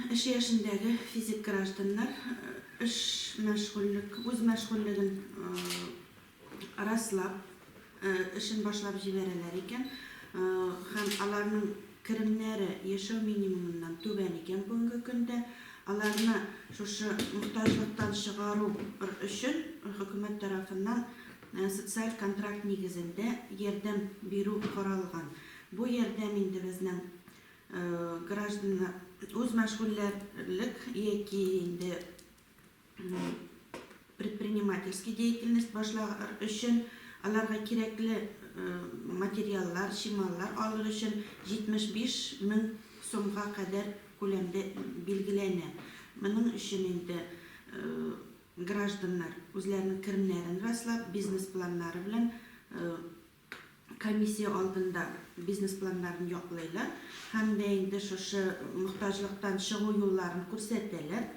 Эш яшендәге физик гражданнар эш мәшгульлек, үз мәшгульлеген раслап, эшен башлап җибәрәләр икән һәм аларның керемнәре яшәү минимумыннан түбән икән бүгенге көндә, аларны шушы мохтаҗлыктан чыгару өчен хөкүмәт тарафыннан социаль контракт нигезендә ярдәм бирү каралган. Бу ярдәм инде безнең Гражданнар үз мәшгульләрлек яки инде предпринимательский деятельность башлар өчен аларга кирәкле материаллар, чималлар алыр өчен 75 мең сумга кадәр күләмдә билгеләнә. Моның өчен инде гражданнар үзләренең керемнәрен раслап, бизнес-планнары белән комиссия алдында бизнес планнарын яклыйлар һәм дә инде шушы мохтаҗлыктан чыгу юлларын күрсәтәләр.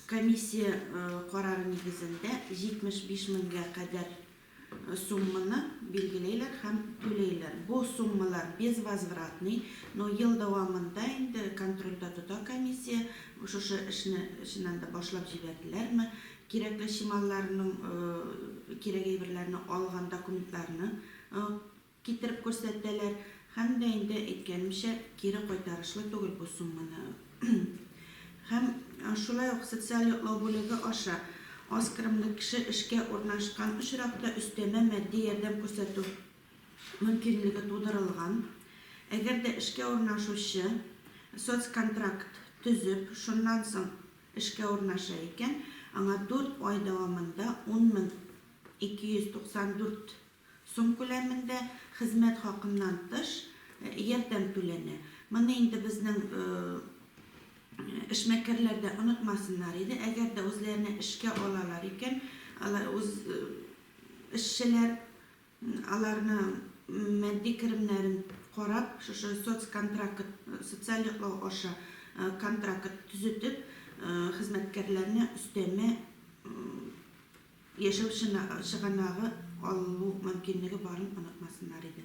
Комиссия карары нигезендә 75 меңгә кадәр сумманы билгеләйләр һәм түләйләр. Бу суммалар безвозвратный, но ел дәвамында инде контрольдә тота комиссия, шушы эшне чыннан да башлап җибәрделәрме, Кирәкле чималларның кирәк әйберләрне алган документларны китереп күрсәтәләр һәм дә инде әйткәнемчә кире кайтарышлы түгел бу сумманы һәм шулай ук социаль яклау бүлеге аша аз керемле кеше эшкә урнашкан очракта өстәмә матди ярдәм күрсәтү мөмкинлеге тудырылган. Әгәр дә эшкә урнашучы соцконтракт төзеп, шуннан соң Эшкә урнаша икән, аңа дүрт ай дәвамында 10 мең 294 сум күләмендә, хезмәт хакыннан тыш, ярдәм түләнә. Моны инде безнең эшмәкәрләр дә онытмасыннар иде. Әгәр дә үзләренә эшкә алалар икән, алар үз эшчеләр, Аларның матди керемнәрен карап, шушы соцконтракт, социаль яклау аша контракт төзетеп, хезмәткәрләрне өстәмә яшәү чыганагы алу мөмкинлеге барын онытмасыннар иде.